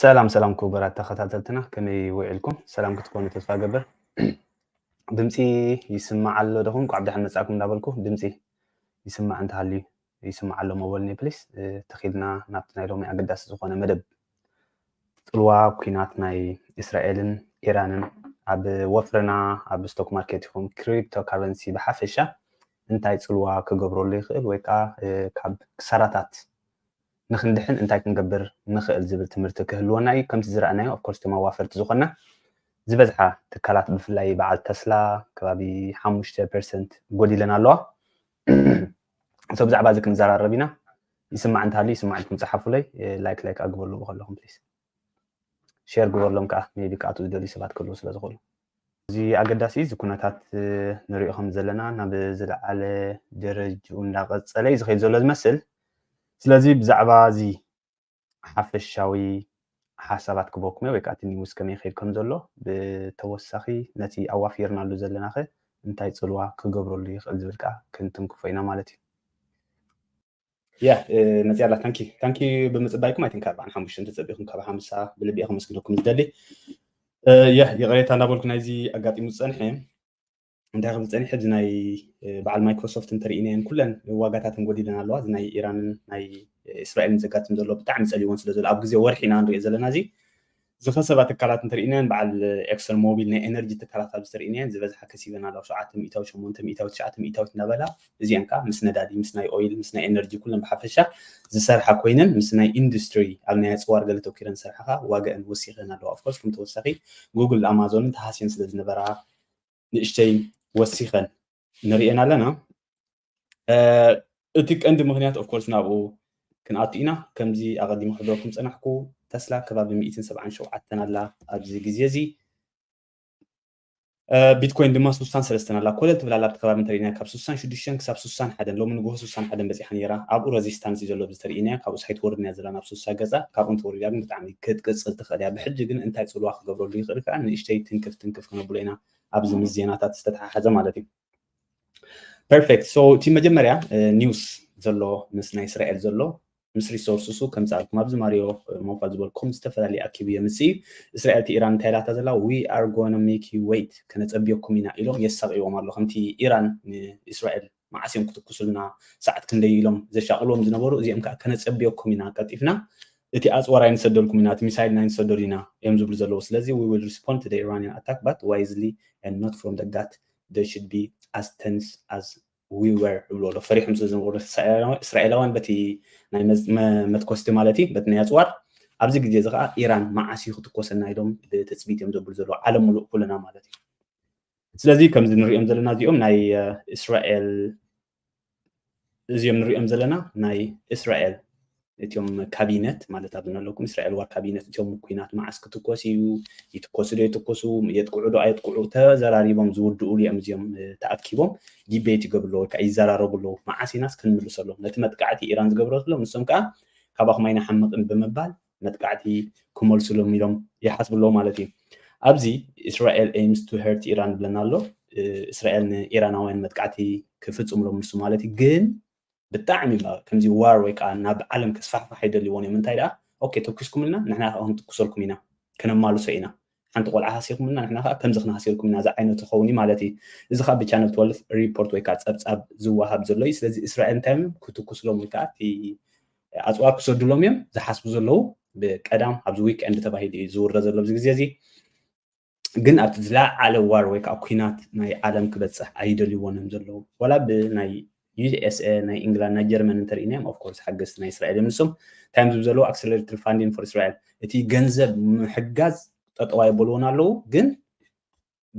ሰላም ሰላም ክቡራት ተኸታተልትና ከመይ ውዒልኩም ሰላም ክትኮኑ ተስፋ ገብር ድምፂ ይስማዕ ኣሎ ደኹም ቋዕ ብድሓን መፃእኩም እንዳበልኩ ድምፂ ይስማዕ እንተሃልዩ ይስማዕ ኣሎ ሞበልኒ ፕሊስ ተኺልና ናብቲ ናይ ሎሚ ኣገዳሲ ዝኾነ መደብ ጽልዋ ኩናት ናይ እስራኤልን ኢራንን ኣብ ወፍርና ኣብ ስቶክ ማርኬት ይኹን ክሪፕቶ ካረንሲ ብሓፈሻ እንታይ ጽልዋ ክገብረሉ ይኽእል ወይ ከዓ ካብ ክሳራታት ንክንድሕን እንታይ ክንገብር ንኽእል ዝብል ትምህርቲ ክህልወና እዩ ከምቲ ዝረኣናዮ ኣፍኮርስ እቶም ኣዋፈርቲ ዝኾና ዝበዝሓ ትካላት ብፍላይ በዓል ተስላ ከባቢ ሓሙሽተ ፐርሰንት ጎዲለን ኣለዋ እሶ ብዛዕባ እዚ ክንዘራረብ ኢና ይስማዕ እንተሃልዩ ይስማዕ ኢልኩም ጸሓፉለይ ላይክ ላይክ ኣግበሉ ከለኹም ፕሊስ ሼር ግበርሎም ከዓ ሜቢ ክኣትዉ ዝደልዩ ሰባት ክህልዉ ስለ ዝኽእሉ እዚ ኣገዳሲ እዚ ኩነታት ንሪኦ ከም ዘለና ናብ ዝለዓለ ደረጅኡ እንዳቐፀለ እዩ ዝኸይድ ዘሎ ዝመስል ስለዚ ብዛዕባ እዚ ሓፈሻዊ ሓሳባት ክበኩመ ወይ ከኣ እቲ ኒውስ ከመይ ይኸይድ ከም ዘሎ ብተወሳኺ ነቲ ኣዋፊርናሉ ዘለናኸ እንታይ ጽልዋ ክገብረሉ ይኽእል ዝብል ከኣ ክንትንክፎ ኢና ማለት እዩ። Yeah መጽያ ኣላ ታንኪ ታንኪ ብምጽባይኩም ኣይቲንክ ኣርብዓን ሓሙሽተን ተጸቢኹም ካብ ሓምሳ ብልቢ እየ ከመስግነኩም ዝደሊ ይቕሬታ እንዳበልኩ ናይዚ ኣጋጢሙ ዝጸንሐ እንታይ ክብል ፀኒሐ እዚ ናይ በዓል ማይክሮሶፍት እንተርኢናየን ኩለን ዋጋታተን ጎዲለን ኣለዋ እዚ ናይ ኢራንን ናይ እስራኤልን ዘጋጥም ዘሎ ብጣዕሚ ፀሊዎን ስለ ዘሎ ኣብ ግዜ ወርሒ ኢና ንሪኦ ዘለና እዚ ዝኸሰባ ትካላት እንተርኢናየን በዓል ኤክሰን ሞቢል ናይ ኤነርጂ ትካላት ኣብ ዝተርኢናየን ዝበዝሓ ከሲበን ኣለዋ ሸውዓተ ሚእታዊ ሸሞንተ ሚእታዊ ትሽዓተ ሚእታዊት እናበላ እዚኣን ከዓ ምስ ነዳዲ ምስ ናይ ኦይል ምስ ናይ ኤነርጂ ኩለን ብሓፈሻ ዝሰርሓ ኮይነን ምስ ናይ ኢንዱስትሪ ኣብ ናይ ኣፅዋር ገለ ተኪረን ዝሰርሓ ከዓ ዋጋአን ወሲኸን ኣለዋ ኦፍኮርስ ከም ተወሳኺ ጉግል ኣማዞንን ተሃስየን ስለ ዝነበራ ንእሽተይ ወሲኸን ንሪኤን ኣለና እቲ ቀንዲ ምክንያት ኦፍኮርስ ናብኡ ክንኣቱ ኢና ከምዚ ኣቐዲሞ ክብለኩም ፀናሕኩ ተስላ ከባቢ 177 ኣላ ኣብዚ ግዜ እዚ ቢትኮይን ድማ 63 ኣላ ኮለል ትብል ኣላ ኣብቲ ከባቢ እንተሪእና ካብ 66 ክሳብ 61 ሎሚ ንግሆ 61 በፂሓ ነይራ ኣብኡ ረዚስታንስ እዩ ዘሎ ብዝተርእናዮ ካብኡ ሳይ ትወርድ እያ ዘላ ናብ 60 ገፃ ካብኡ እንትወርድ እያ ግን ብጣዕሚ ክትቅጽል ትኽእል እያ። ብሕጂ ግን እንታይ ጽልዋ ክገብረሉ ይኽእል ከኣ ንእሽተይ ትንክፍ ትንክፍ ክነብሎ ኢና ኣብዚ ምስ ዜናታት ዝተተሓሓዘ ማለት እዩ። ፐርፌክት ሶ እቲ መጀመርያ ኒውስ ዘሎ ምስ ናይ እስራኤል ዘሎ ምስ ሪሶርስሱ ከምጽኣልኩም ኣብዚ ማሪዮ ሞፋ ዝበልኩም ዝተፈላለየ ኣኪቡ የምጽእ እዩ እስራኤል እቲ ኢራን እንታይ ኢላታ ዘላ ዊ ኣር ጎነ ሜክ ዩ ወይት ከነጸብየኩም ኢና ኢሎም የሳቕይዎም ኣሎ ከምቲ ኢራን ንእስራኤል መዓስ እዮም ክትኩሱልና ሰዓት ክንደይ ኢሎም ዘሻቕልዎም ዝነበሩ እዚኦም ከኣ ከነጸብየኩም ኢና ቀልጢፍና እቲ ኣጽዋር ኣይንሰደልኩም ኢና እቲ ሚሳይል ኣይንሰደሉ ኢና እዮም ዝብሉ ዘለዉ ስለዚ we will respond to the Iranian attack but wisely and not from the gut they should be as tense as we were ይብሉ ኣሎ ፈሪሖም ስለ ዝነበሩ እስራኤላውያን በቲ ናይ መትኮስቲ ማለት እዩ በቲ ናይ ኣፅዋር ኣብዚ ግዜ እዚ ከዓ ኢራን መዓስ እዩ ክትኮሰና ኢሎም ብትፅቢት እዮም ዘብሉ ዘለዉ ዓለም ሙሉእ ኩልና ማለት እዩ ስለዚ ከምዚ ንሪኦም ዘለና እዚኦም ናይ እስራኤል እዚኦም ንሪኦም ዘለና ናይ እስራኤል እትዮም ካቢነት ማለት ኣብዚ ኣለኩም እስራኤል ዋር ካቢነት እትዮም ኩናት መዓስ ክትኮስ እዩ ይትኮሱ ዶ ይትኮሱ የጥቅዑ ዶ ኣየጥቅዑ ተዘራሪቦም ዝውድእሉ እዮም እዚኦም ተኣኪቦም ዲቤት ይገብሩ ኣለዉ ወይከዓ ይዘራረቡ ኣለዉ መዓስ ኢናስ ክንምልሰሎም ነቲ መጥቃዕቲ ኢራን ዝገብረትሎም ንሶም ከዓ ካባኹም ኣይንሓምቕን ብምባል መጥቃዕቲ ክመልሱሎም ኢሎም ይሓስቡ ኣለዉ ማለት እዩ። ኣብዚ እስራኤል ኤምስ ቱ ሄርት ኢራን ብለና ኣሎ። እስራኤል ንኢራናውያን መጥቃዕቲ ክፍጽምሎም ንሱ ማለት እዩ። ግን ብጣዕሚ ከምዚ ዋር ወይ ከዓ ናብ ዓለም ክስፋሕፋሕ ኣይደልይዎን እዮም። እንታይ ደኣ ኦኬ ተኩስኩምልና ንሕና ከዓ ክንትኩሰልኩም ኢና ከነማልሶ ኢና ሓንቲ ቆልዓ ሃሲኹምና ንሕና ከዓ ከምዚ ክንሃሲልኩምና ዝዓይነቱ ክኸውን እዩ ማለት እዩ እዚ ከዓ ብቻነል ትወልፍ ሪፖርት ወይ ከዓ ፀብፃብ ዝወሃብ ዘሎ እዩ ስለዚ እስራኤል እንታይ እዮም ክትኩስሎም ወይ ከዓ እቲ ኣፅዋር ክሰዱሎም እዮም ዝሓስቡ ዘለዉ ብቀዳም ኣብዚ ዊክኤንድ ተባሂሉ እዩ ዝውረ ዘሎ ኣብዚ ግዜ እዚ ግን ኣብቲ ዝለዓለ ዋር ወይ ከዓ ኩናት ናይ ዓለም ክበፅሕ ኣይደልይዎን እዮም ዘለዉ ዋላ ብናይ USA ናይ ኢንግላንድ ናይ ጀርመን እንተሪኢናዮም ኦፍ ኮርስ ሓገዝቲ ናይ እስራኤል እዮም ንሶም እንታይ ዝብ ዘለዎ ኣክሰለሬትድ ፋንዲን ፎር እስራኤል እቲ ገንዘብ ምሕጋዝ ጠጠዋ የበልዎን ኣለዉ ግን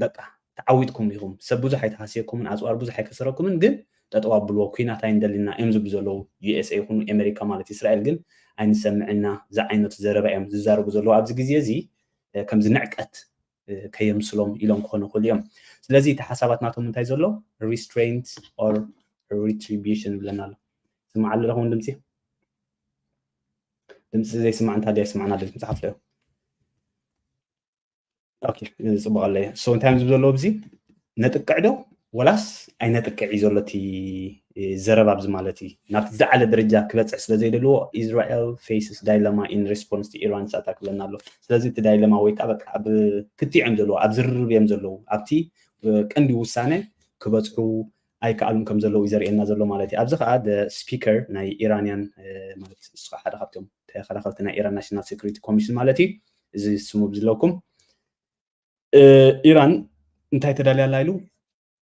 በቃ ተዓዊትኩም ኢኹም ሰብ ብዙሕ ኣይተሃስየኩምን ኣፅዋር ብዙሕ ኣይከሰረኩምን ግን ጠጠዋ ኣብልዎ ኩናት ኣይንደሊና እዮም ዝብሉ ዘለዉ ዩኤስኤ ይኹኑ ኣሜሪካ ማለት እስራኤል ግን ኣይንሰምዕና ዝዓይነቱ ዘረባ እዮም ዝዛረቡ ዘለዉ ኣብዚ ግዜ እዚ ከምዚ ንዕቀት ከየምስሎም ኢሎም ክኾኑ ይኽእሉ እዮም ስለዚ እቲ ሓሳባት ናቶም እንታይ ዘሎ ሪስትሬንት ኦር ሪትሪቢሽን ይብለና ኣሎ ስማዕ ኣሎ ለኹም ድምፂ ድምፂ ዘይስማዕ እንታይ ደ ስማዕና ድምፂ መፅሓፍ ዶ ኦኬ ፅቡቅ ኣለየ ሶ እንታይ እዮም ዝብ ዘለዎ ብዚ ነጥቅዕ ዶ ወላስ ኣይነጥቅዕ እዩ ዘሎ እቲ ዘረባ ኣብዚ ማለት እዩ ናብቲ ዝዓለ ደረጃ ክበፅሕ ስለ ዘይደልዎ ኢስራኤል ፌስስ ዳይለማ ኢን ሬስፖንስ ኢራንስ ኣታክ ብለና ኣሎ ስለዚ እቲ ዳይለማ ወይ ከዓ በቃ ኣብ ክትዕ እዮም ዘለዎ ኣብ ዝርርብ እዮም ዘለዉ ኣብቲ ቀንዲ ውሳነ ክበፅሑ ኣይከኣሉን ከም ዘለዉ እዩ ዘርእየና ዘሎ ማለት እዩ ኣብዚ ከዓ ስፒከር ናይ ኢራንያን ማለት ንሱ ከዓ ሓደ ካብቶም ተኸላኸልቲ ናይ ኢራን ናሽናል ሴኩሪቲ ኮሚሽን ማለት እዩ እዚ ስሙ ብዝለኩም ኢራን እንታይ ተዳልያ ኣላ ኢሉ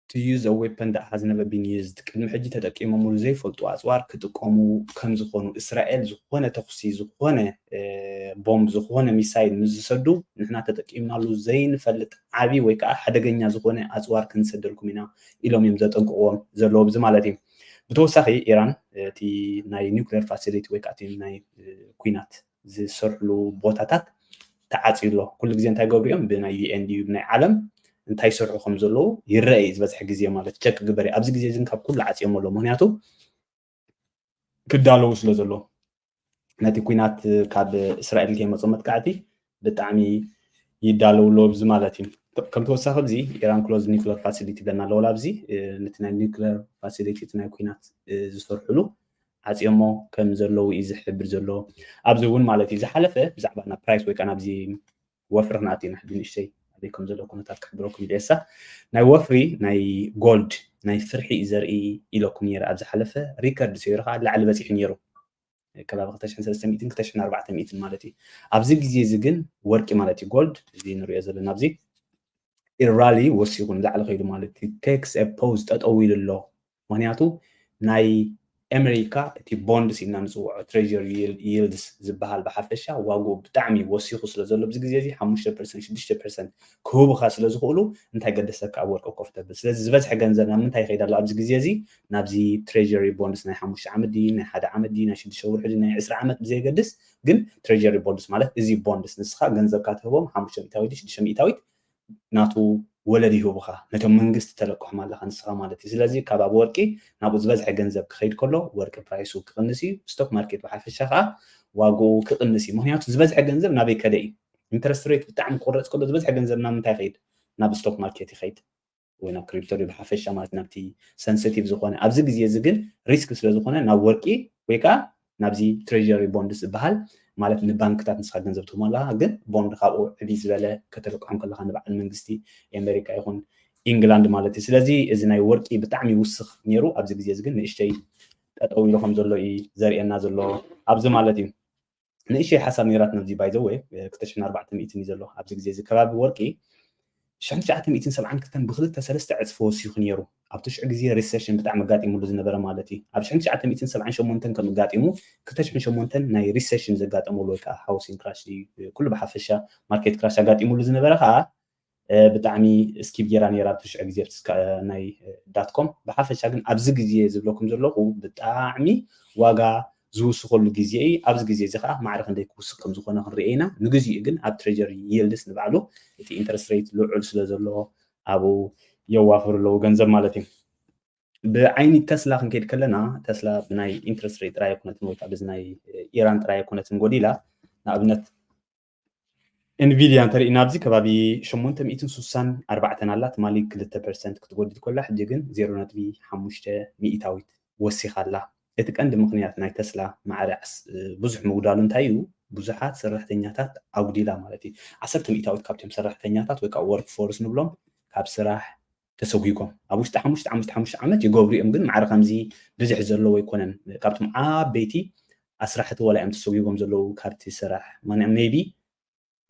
to use a weapon that has never been used ቅድሚ ሕጂ ተጠቂሞምሉ ዘይፈልጡ ኣፅዋር ክጥቀሙ ከም ዝኾኑ እስራኤል ዝኾነ ተኹሲ ዝኾነ ቦምብ ዝኾነ ሚሳይል ምስ ዝሰዱ ንሕና ተጠቂምናሉ ዘይንፈልጥ ዓብዪ ወይ ከዓ ሓደገኛ ዝኾነ ኣፅዋር ክንሰደልኩም ኢና ኢሎም እዮም ዘጠንቅቕዎም ዘለዎ ብዚ ማለት እዩ ብተወሳኺ ኢራን እቲ ናይ ኒክሌር ፋሲሊቲ ወይ ከዓ እቲ ናይ ኩናት ዝስርሕሉ ቦታታት ተዓፅዩ ኣሎ። ኩሉ ግዜ እንታይ ይገብሩ እዮም ብናይ ዩኤን ድዩ ብናይ ዓለም እንታይ ይሰርሑ ከም ዘለዉ ይረአ እዩ ዝበዝሐ ግዜ ማለት ቸክ ግበር ኣብዚ ግዜ እዚ ካብ ኩሉ ዓፅዮም ኣሎ ምክንያቱ ክዳለዉ ስለ ዘሎ ነቲ ኩናት ካብ እስራኤል ከይመፁ መጥቃዕቲ ብጣዕሚ ይዳለዉ ኣሎ እዚ ማለት እዩ ከም ተወሳኺ እዚ ኢራን ክሎዝ ኒክለር ፋሲሊቲ ብለና ኣለዎ ኣብዚ ነቲ ናይ ኒክለር ፋሲሊቲ እቲ ናይ ኩናት ዝሰርሕሉ ዓጽዮሞ ከም ዘለዉ እዩ ዝሕብር ዘሎ ኣብዚ እውን ማለት እዩ ዝሓለፈ ብዛዕባ ናብ ፕራይስ ወይ ከዓ ናብዚ ወፍሪ ክንኣት ኢና ሕጂ ንእሽተይ ኣበይ ከም ዘሎ ኩነታት ክሕብረኩም ደሳ ናይ ወፍሪ ናይ ጎልድ ናይ ፍርሒ እዩ ዘርኢ ኢለኩም ነይረ ኣብ ዝሓለፈ ሪከርድ ሰይሩ ከዓ ላዕሊ በፂሑ ነይሩ ከባቢ 2300 ማለት እዩ ኣብዚ ግዜ እዚ ግን ወርቂ ማለት እዩ ጎልድ እዚ ንሪኦ ዘለና ኣብዚ ኢራሊ ወሲኹ ንላዕሊ ከይዱ ማለት እዩ ቴክስ ፖዝ ጠጠው ኢሉ ኣሎ ምኽንያቱ ናይ ኤመሪካ እቲ ቦንድስ ኢልና ንጽውዖ ትሬዠሪ ይልድስ ዝበሃል ብሓፈሻ ዋግኡ ብጣዕሚ ወሲኹ ስለ ዘሎ ኣብዚ ግዜ እዚ ሓሙሽተ ፐርሰንት ሽዱሽተ ፐርሰንት ክህቡኻ ስለ ዝኽእሉ እንታይ ገደሰካ ኣብ ወርቂ ኮፍ ተብል ስለዚ ዝበዝሐ ገንዘብ ናብ ምንታይ ይኸይድ ኣሎ ኣብዚ ግዜ እዚ ናብዚ ትሬዠሪ ቦንድስ ናይ ሓሙሽተ ዓመት ድዩ ናይ ሓደ ዓመት ድዩ ናይ ሽዱሽተ ወርሒ ድዩ ናይ ዕስራ ዓመት ብዘየገድስ ግን ትሬዠሪ ቦንድስ ማለት እዚ ቦንድስ ንስኻ ገንዘብካ ትህቦም ሓሙሽተ ሚእታዊት ሽዱሽተ ሚእታዊት ናቱ ወለድ ይህቡኻ ነቶም መንግስቲ ተለቅሖም ኣለኻ ንስኻ ማለት እዩ ስለዚ ካብ ኣብ ወርቂ ናብኡ ዝበዝሐ ገንዘብ ክኸይድ ከሎ ወርቂ ፕራይሱ ክቕንስ እዩ ስቶክ ማርኬት ብሓፈሻ ከኣ ዋግኡ ክቕንስ እዩ ምኽንያቱ ዝበዝሐ ገንዘብ ናበይ ከደ እዩ ኢንተረስት ሬት ብጣዕሚ ክቕረጽ ከሎ ዝበዝሐ ገንዘብ ናብ ምንታይ ይኸይድ ናብ ስቶክ ማርኬት ይኸይድ ወይ ናብ ክሪፕቶ ድዩ ብሓፈሻ ማለት ናብቲ ሰንሰቲቭ ዝኾነ ኣብዚ ግዜ እዚ ግን ሪስክ ስለ ዝኾነ ናብ ወርቂ ወይ ከዓ ናብዚ ትሬሪ ቦንድስ ዝበሃል ማለት ንባንክታት ንስኻ ገንዘብ ትህቦ ኣለካ ግን ቦንድ ካብኡ ዕብይ ዝበለ ከተልቅሖም ከለካ ንበዓል መንግስቲ ኣሜሪካ ይኹን ኢንግላንድ ማለት እዩ ስለዚ እዚ ናይ ወርቂ ብጣዕሚ ይውስኽ ነይሩ ኣብዚ ግዜ እዚ ግን ንእሽተይ ጠጠው ኢሉ ከም ዘሎ እዩ ዘርእየና ዘሎ ኣብዚ ማለት እዩ ንእሽተይ ሓሳብ ነይራትና እዚ ባይ ዘ ወይ ክልተ ሽሕን ኣርባዕተ ሚእትን እዩ ዘሎ ኣብዚ ግዜ እዚ ከባቢ ወርቂ ሽሕን ትሽዓተ ሚእትን ሰብዓን ክልተን ብክልተ ሰለስተ ዕፅፊ ወሲኹ ነይሩ ኣብቲ ሽዑ ግዜ ሪሴሽን ብጣዕሚ ኣጋጢሙሉ ዝነበረ ማለት እዩ ኣብ ሽሕን ትሽዓተ ሚእትን ሰብዓን ሸሞንተን ከም ኣጋጢሙ ክልተ ሽሕን ሸሞንተን ናይ ሪሴሽን ዘጋጠመሉ ወይ ከዓ ሃውሲን ክራሽ ኩሉ ብሓፈሻ ማርኬት ክራሽ ኣጋጢሙሉ ዝነበረ ከዓ ብጣዕሚ እስኪብ ጌራ ኔራ ኣብቲ ሽዑ ግዜ ኣብቲ ናይ ዳት ኮም ብሓፈሻ ግን ኣብዚ ግዜ ዝብለኩም ዘለኹ ብጣዕሚ ዋጋ ዝውስኸሉ ግዜ እዩ ኣብዚ ግዜ እዚ ከዓ ማዕረ ክንደይ ክውስኽ ከም ዝኾነ ክንሪኦ ኢና ንግዚኡ ግን ኣብ ትሬጀሪ ይልድስ ንባዕሉ እቲ ኢንተረስት ሬት ልዑል ስለ ዘሎ ኣብኡ የዋፍሩ ኣለዉ ገንዘብ ማለት እዩ ብዓይኒ ተስላ ክንከይድ ከለና ተስላ ብናይ ኢንትረስት ሬት ጥራይ ኣይኮነትን ወይ ከዓ ብዚ ናይ ኢራን ጥራይ ኣይኮነትን ጎዲላ ንኣብነት ኢንቪድያ እንተሪእና ኣብዚ ከባቢ ሸሞንተ ሚእትን ሱሳን ኣርባዕተን ኣላ ትማሊ ክልተ ፐርሰንት ክትጎድል ኮላ ሕጂ ግን ዜሮ ነጥቢ ሓሙሽተ ሚኢታዊት ወሲኻ ኣላ እቲ ቀንዲ ምኽንያት ናይ ተስላ ማዕረ ብዙሕ ምጉዳሉ እንታይ እዩ ብዙሓት ሰራሕተኛታት ኣጉዲላ ማለት እዩ ዓሰርተ ሚኢታዊት ካብቶም ሰራሕተኛታት ወይ ከዓ ወርክ ፎርስ ንብሎም ካብ ስራሕ ተሰጉጎም ኣብ ውሽጢ ሓሙሽተ ዓምስተ ሓሙሽተ ዓመት ይገብሩ እዮም ግን ማዕረ ከምዚ ብዝሕ ዘለዎ ኣይኮነን ካብቶም ዓበይቲ ኣስራሕቲ ወላ እዮም ተሰጉጎም ዘለዉ ካብቲ ስራሕ ማንዕ ሜቢ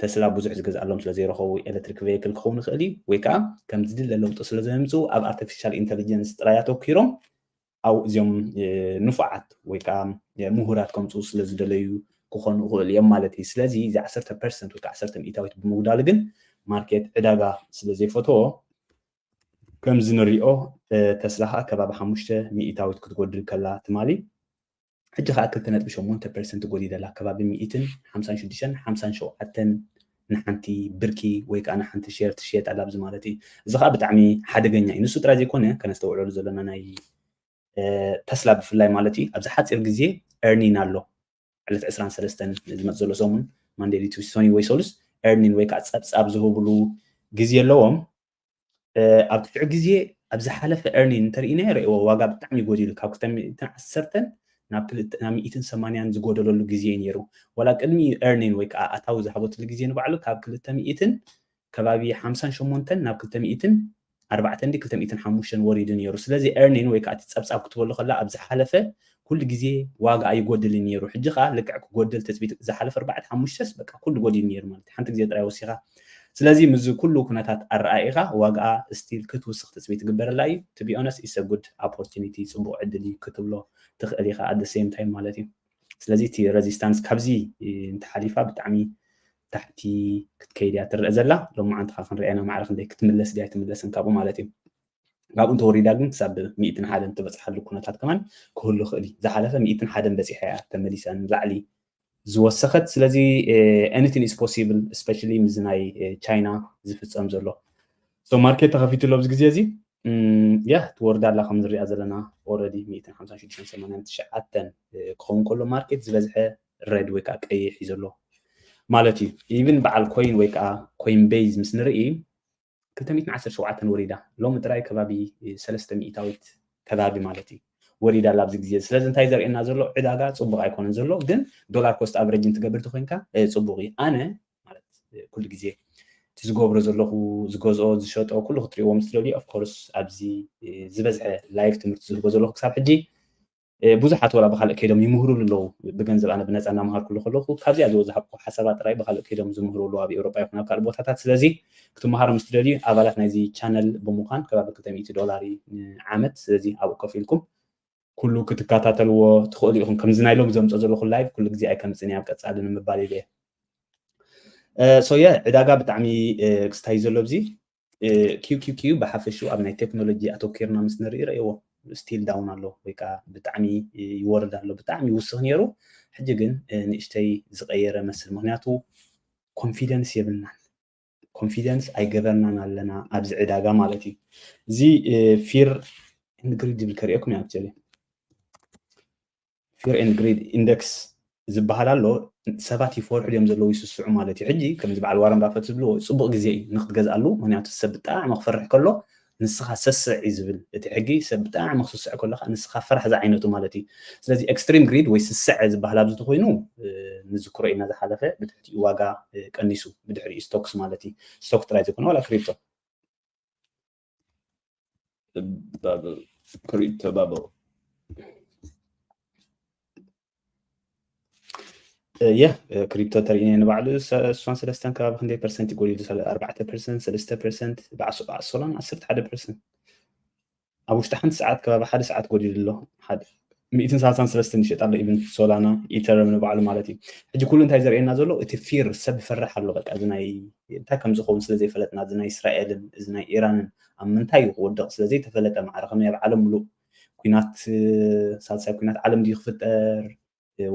ተስላ ብዙሕ ዝገዝኣሎም ስለ ዘይረኸቡ ኤሌክትሪክ ቬይክል ክኸውን ይኽእል እዩ ወይ ከዓ ከም ዝድለ ለውጢ ስለ ዘምፅኡ ኣብ ኣርቲፊሻል ኢንተሊጀንስ ጥራይ ኣተኪሮም ኣብኡ እዚኦም ንፉዓት ወይ ከዓ ምሁራት ከምፅኡ ስለ ዝደለዩ ክኾኑ ይኽእሉ እዮም ማለት እዩ። ስለዚ እዚ ዓሰርተ ፐርሰንት ወይ ከዓ ዓሰርተ ሚእታዊት ብምጉዳሉ ግን ማርኬት ዕዳጋ ስለ ዘይፈተዎ ከምዚ ንሪኦ ተስላ ከዓ ከባቢ ሓሙሽተ ሚእታዊት ክትጎድል ከላ ትማሊ ሕጂ ከኣ ክልተ ነጥቢ ሸሞንተ ፐርሰንት ጎዲለላ ከባቢ ሚኢትን ሓምሳን ሽዱሽተን ሓምሳን ሸውዓተን ንሓንቲ ብርኪ ወይ ከኣ ንሓንቲ ሼር ትሽየጥ ኣላ ኣብዚ ማለት እዩ እዚ ከኣ ብጣዕሚ ሓደገኛ እዩ ንሱ ጥራይ ዘይኮነ ከነስተውዕለሉ ዘለና ናይ ተስላ ብፍላይ ማለት እዩ ኣብዚ ሓፂር ግዜ ኤርኒን ኣሎ ዕለት ዕስራን ሰለስተን ዝመፅ ዘሎ ሰሙን ማንዴሊ ቱስቶኒ ወይ ሰሉስ ኤርኒን ወይ ከዓ ፀብፃብ ዝህብሉ ግዜ ኣለዎም ኣብ ትሕቲ ግዜ ኣብ ዝሓለፈ ኤርኒን እንተርኢናዮ ርእይዎ ዋጋ ብጣዕሚ ጎዲሉ ካብ ክልተ ሚእትን ዓሰርተን ናብ ክልተ ናብ ሚእትን ሰማንያን ዝጎደለሉ ግዜ እዩ ነይሩ ዋላ ቅድሚ ኤርኒን ወይ ከዓ ኣታዊ ዝሃበትሉ ግዜ ንባዕሉ ካብ ክልተ ሚእትን ከባቢ ሓምሳን ሸሞንተን ናብ ክልተ ሚእትን ኣርባዕተን ዲ ክልተ ሚእትን ሓሙሽተን ወሪዱ ነይሩ ስለዚ ኤርኒን ወይ ከዓ እቲ ፀብፃብ ክትበሉ ከላ ኣብ ዝሓለፈ ኩሉ ግዜ ዋጋ ኣይጎድልን ኔሩ ሕጂ ከኣ ልክዕ ክጎድል ትጽቢት ዝሓለፈ ኣርባዕተ ሓሙሽተስ በቃ ኩሉ ጎዲሉ ኔሩ ማለት ሓንቲ ግዜ ጥራይ ወሲኻ ስለዚ ምስዚ ኩሉ ኩነታት ኣረኣኢኻ ዋግኣ ስቲል ክትውስኽ ትጽቢት ይግበረላ እዩ to be honest it's a good opportunity ጽቡቕ ዕድል እዩ ክትብሎ ትኽእል ኢኻ at the same time ማለት እዩ ስለዚ እቲ ረዚስታንስ ካብዚ እንተሓሊፋ ብጣዕሚ ታሕቲ ክትከይድ እያ ትረአ ዘላ ሎማዓንቲ ካ ክንሪኣና ማዕረ ክንደይ ክትምለስ ድያ ኣይትምለስን ካብኡ ማለት እዩ ካብኡ እንተወሪዳ ግን ክሳብ ሚእትን ሓደን ትበጽሓሉ ኩነታት ከማን ክህሉ ይኽእል እዩ ዝሓለፈ ሚእትን ሓደን በጺሓ እያ ተመሊሳ ንላዕሊ ዝወሰኸት ስለዚ ኤኒቲን ኢዝ ፖሲብል ስፔሻሊ ምዚ ናይ ቻይና ዝፍፀም ዘሎ ሶ ማርኬት ተኸፊቱ ኣሎ ኣብዚ ግዜ እዚ ያ ትወርዳ ኣላ ከም ንሪኣ ዘለና ኦረዲ ሚእትን ሓምሳን ሽዱሽተን ሰማንያን ትሽዓተን ክኸውን ከሎ ማርኬት ዝበዝሐ ሬድ ወይ ከዓ ቀይሕ እዩ ዘሎ ማለት እዩ ኢቭን በዓል ኮይን ወይ ከዓ ኮይን ቤዝ ምስ ንርኢ ክልተ ሚእትን ዓሰርተ ሸውዓተን ወሪዳ ሎሚ ጥራይ ከባቢ ሰለስተ ሚኢታዊት ከባቢ ማለት እዩ ወሪዳ ኣላ ኣብዚ ግዜ እዚ ስለዚ እንታይ ዘርእየና ዘሎ ዕዳጋ ጽቡቕ ኣይኮነን ዘሎ ግን ዶላር ኮስት ኣቨሬጅ እንትገብር ተኮይንካ ጽቡቕ እዩ ኣነ ማለት ኩሉ ግዜ እቲ ዝገብሮ ዘለኹ ዝገዝኦ ዝሸጦ ኩሉ ክትሪእዎ ምስ ትደልዩ ኦፍኮርስ ኣብዚ ዝበዝሐ ላይቭ ትምህርቲ ዝህቦ ዘለኹ ክሳብ ሕጂ ብዙሓት ወላ ብካልእ ከይዶም ይምህሩሉ ኣለዉ ብገንዘብ ኣነ ብነፃ እናምሃርኩሉ ከለኹ ካብዚኣ ዝወዛሃብኩ ሓሳባት ጥራይ ብካልእ ከይዶም ዝምህሩ ኣለዉ ኣብ ኤውሮጳ ይኹን ኣብ ካልእ ቦታታት ስለዚ ክትምሃሩ ምስ ትደልዩ ኣባላት ናይዚ ቻነል ብምዃን ከባቢ ክልተ ሚእቲ ዶላር ዓመት ስለዚ ኣብኡ ከፍ ኢልኩም ኩሉ ክትከታተልዎ ትኽእሉ ኢኹም ከምዚ ናይ ሎም ዘምፆ ዘለኹ ላይቭ ኩሉ ግዜ ኣይከምፅን ኣብ ቀፃሊ ንምባል ኢለ እየ ሶየ ዕዳጋ ብጣዕሚ ክስታይ ዘሎ ብዚ QQQ ብሓፈሽኡ ኣብ ናይ ቴክኖሎጂ ኣተኪርና ምስ ንርኢ ረእዎ ስቲል ዳውን ኣሎ ወይ ከዓ ብጣዕሚ ይወርድ ኣሎ ብጣዕሚ ይውስኽ ነይሩ ሕጂ ግን ንእሽተይ ዝቀየረ መስል ምክንያቱ ኮንፊደንስ የብልናን ኮንፊደንስ ኣይገበርናን ኣለና ኣብዚ ዕዳጋ ማለት እዩ እዚ ፊር ንግሪድ ዝብል ከሪኦኩም እዩ ኣብጀለ ፊር ኤንድ ግሪድ ኢንደክስ ዝባሃል ኣሎ ሰባት ይፈርሑ ድዮም ዘለዉ ይስስዑ ማለት እዩ ሕጂ ከምዚ በዓል ዋረን ባፈት ዝብልዎ ጽቡቅ ግዜ እዩ ንክትገዝኣሉ ምክንያቱ ሰብ ብጣዕሚ ክፈርሕ ከሎ ንስኻ ሰስዕ እዩ ዝብል እቲ ሕጊ ሰብ ብጣዕሚ ክስስዕ ከሎ ከኣ ንስኻ ፈራሕ ዝዓይነቱ ማለት እዩ ስለዚ ኤክስትሪም ግሪድ ወይ ስስዐ ዝባሃል ኣብዚ ተኮይኑ ንዝክሮ ኢና ዝሓለፈ ብትሕቲኡ ዋጋ ቀኒሱ ብድሕሪኡ ስቶክስ ማለት እዩ ስቶክ ጥራይ ዘይኮነ ዋላ ክሪፕቶ Bubble. Crypto bubble. ያ ክሪፕቶ ተርእነ ንባዕሉ እሷን ሰለስተን ከባቢ ክንደይ ፐርሰንት ይጎልዩ ኣርባዕተ ፐርሰንት ሰለስተ ፐርሰንት ብዓሶላን ዓሰርተ ሓደ ፐርሰንት ኣብ ውሽጢ ሓንቲ ሰዓት ከባቢ ሓደ ሰዓት ጎዲሉ ኣሎ ሓደ ሚእትን ሳልሳን ሰለስትን ይሸጣ ኣሎ ኢቭን ሶላና ኢተረም ንባዕሉ ማለት እዩ ሕጂ ኩሉ እንታይ ዘርእየና ዘሎ እቲ ፊር ሰብ ይፈርሕ ኣሎ በቃ እዚ ናይ እንታይ ከም ዝኸውን ስለ ዘይፈለጥና እዚ ናይ እስራኤልን እዚ ናይ ኢራንን ኣብ ምንታይ እዩ ክወድቕ ስለ ዘይተፈለጠ ማዕረ ከመይ ኣብ ዓለም ምሉእ ኩናት ሳልሳይ ኩናት ዓለም ድዩ ክፍጠር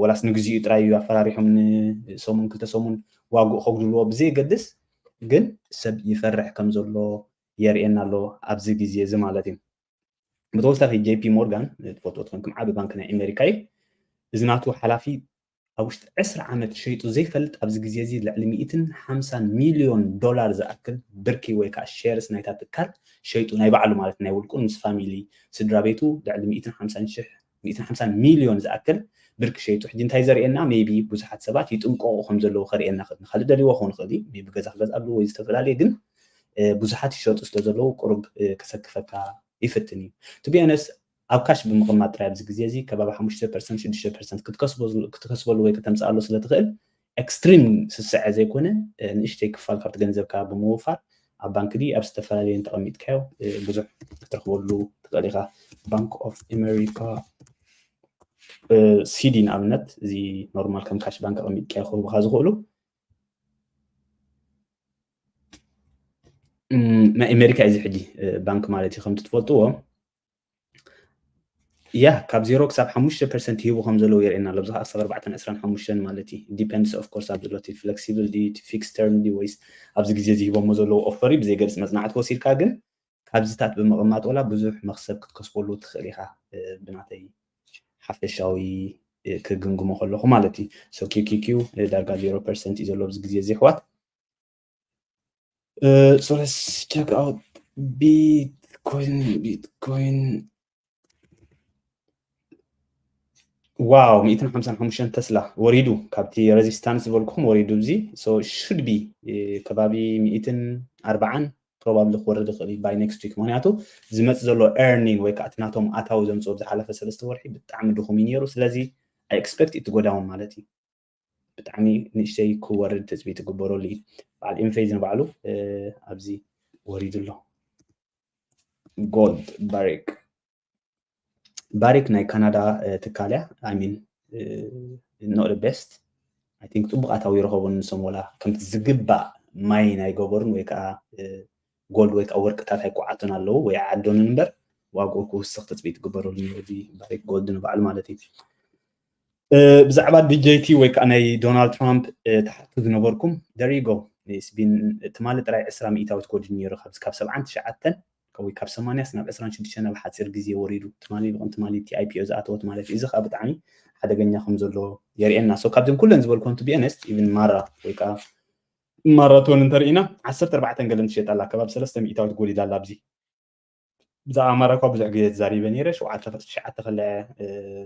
ወላስ ንግዚኡ ጥራይ እዩ ኣፈራሪሖም ንሰሙን ክልተ ሰሙን ዋግኡ ከጉድልዎ ብዘየገድስ ግን ሰብ ይፈርሕ ከም ዘሎ የርእየና ኣሎ ኣብዚ ግዜ እዚ ማለት እዩ ብተወሳኺ ጄፒ ሞርጋን ትፈልጦ ትኾንኩም ዓቢ ባንኪ ናይ ኣሜሪካ እዩ እዚ ናቱ ሓላፊ ኣብ ውሽጢ ዕስራ ዓመት ሸይጡ ዘይፈልጥ ኣብዚ ግዜ እዚ ልዕሊ ሚእትን ሓምሳን ሚልዮን ዶላር ዝኣክል ብርኪ ወይ ከዓ ሼርስ ናይታ ትካል ሸይጡ ናይ ባዕሉ ማለት ናይ ውልቁን ምስ ፋሚሊ ስድራ ቤቱ ልዕሊ ሚእትን ሓምሳን ሽሕ ሚእትን ሓምሳን ሚልዮን ዝኣክል ብርኪ ሸይጡ ሕጂ እንታይ ዘርእየና ሜይቢ ብዙሓት ሰባት ይጥንቆቁ ከም ዘለዉ ከርእየና ይኽእል ንኻልእ ደልይዎ ክኸውን ይኽእል እዩ ሜይቢ ገዛ ክገዝኣሉ ወይ ዝተፈላለየ ግን ብዙሓት ይሸጡ ስለ ዘለዉ ቁሩብ ከሰክፈካ ይፍትን እዩ ቱ ቢ ኦነስት ኣብ ካሽ ብምቕማጥ ጥራይ ኣብዚ ግዜ እዚ ከባቢ ሓሙሽተ ፐርሰንት ሽዱሽተ ፐርሰንት ክትከስበሉ ወይ ከተምጽኣሉ ስለ ትኽእል ኤክስትሪም ስስዐ ዘይኮነ ንእሽተይ ክፋል ካብቲ ገንዘብካ ብምውፋር ኣብ ባንክ ድዩ ኣብ ዝተፈላለየ እንተቐሚጥካዮ ብዙሕ ክትረኽበሉ ትኽእል ኢኻ ባንክ ኦፍ ኣሜሪካ ሲዲ ንኣብነት እዚ ኖርማል ከም ካሽ ባንክ ኣቐሚጥካዮ ክህቡካ ዝኽእሉ ናይ ኣሜሪካ እዩ እዚ ሕጂ ባንክ ማለት እዩ ከምቲ ትፈልጥዎ ያ ካብ ዜሮ ክሳብ ሓሙሽተ ፐርሰንት ይህቡ ከም ዘለዉ የርእየና ኣሎ ብዝካ ክሳብ ኣርባዕተን ዕስራን ሓሙሽተን ማለት እዩ ዲፐንድስ ኦፍ ኮርስ ኣብ ዘሎ እቲ ፍለክሲብል ድዩ እቲ ፊክስ ተርም ድዩ ወይስ ኣብዚ ግዜ እዚ ሂቦሞ ዘለዉ ኦፈር እዩ ብዘይ ገልፂ መፅናዕቲ ወሲድካ ግን ካብዚታት ብምቕማጥ ወላ ብዙሕ መክሰብ ክትከስበሉ ትኽእል ኢኻ ብናተይ ሓፈሻዊ ክግምግሞ ከለኹ ማለት እዩ ሶ ኪኪኪዩ ዳርጋ ዜሮ ፐርሰንት እዩ ዘሎ ኣብዚ ግዜ እዚ ኣሕዋት Uh, so let's check out Bitcoin. Bitcoin. ዋው 155 ተስላ ወሪዱ ካብቲ ሬዚስታንስ ዝበልኩም ወሪዱ እዚ ሹድ ቢ ከባቢ 140 ፕሮባብሊ ክወርድ ይኽእል እዩ ባይ ኔክስት ዊክ ምክንያቱ ዝመፅ ዘሎ ኤርኒን ወይ ከዓ እቲ ናቶም ኣታዊ ዘምፅኦ ዝሓለፈ ሰለስተ ወርሒ ብጣዕሚ ድኹም እዩ ነይሩ ስለዚ ኣይ ኤክስፐክት እቲ ጎዳውን ማለት እዩ ብጣዕሚ ንእሽተይ ክወርድ ትፅቢት ይግበረሉ እዩ በዓል ኢንፌዝ ንባዕሉ ኣብዚ ወሪዱ ኣሎ ጎልድ ባሪክ ባሪክ ናይ ካናዳ ትካል እያ ኣይሚን ኖት ቤስት ኣይ ቲንክ ፅቡቅ ኣታዊ ይረኸቡ ንሶም ወላ ከምቲ ዝግባእ ማይ ናይ ገበሩን ወይ ከዓ ጎልድ ወይ ከዓ ወርቅታት ኣይኩዓቱን ኣለዉ ወይ ዓዶንን እምበር ዋግኡ ክውስኽ ትፅቢት ግበረሉ እዚ ባሪክ ጎልድ ንባዕሉ ማለት እዩ ብዛዕባ ዲጀይቲ ወይ ከዓ ናይ ዶናልድ ትራምፕ ተሓቱ ዝነበርኩም ደሪጎ ስቢን ትማሊ ጥራይ ዕስራ ሚእታዊት ጎዲሉ ነይሩ ካብዚ ካብ ሰብዓን ትሽዓተን ወይ ካብ ሰማንያስ ናብ ዕስራን ሽዱሽተን ኣብ ሓፂር ግዜ ወሪዱ ትማሊ ይልቕን ትማሊ እቲ ኣይፒኦ ዝኣተወት ማለት እዩ እዚ ከዓ ብጣዕሚ ሓደገኛ ከም ዘሎ የርእየና ሶ ካብዘን ኩለን ዝበልኮን ቱ ቢኤነስት ኢቭን ማራ ወይ ከዓ ማራቶን እንተርኢና ዓሰርተ ኣርባዕተን ገለን ትሸጣላ ከባቢ ሰለስተ ሚእታዊት ጎዲላ ኣላ ኣብዚ ብዛዕባ ኣማራ እኳ ብዙሕ ግዜ ተዛሪበ ነይረ ሸውዓተ ትሽዓተ ከለ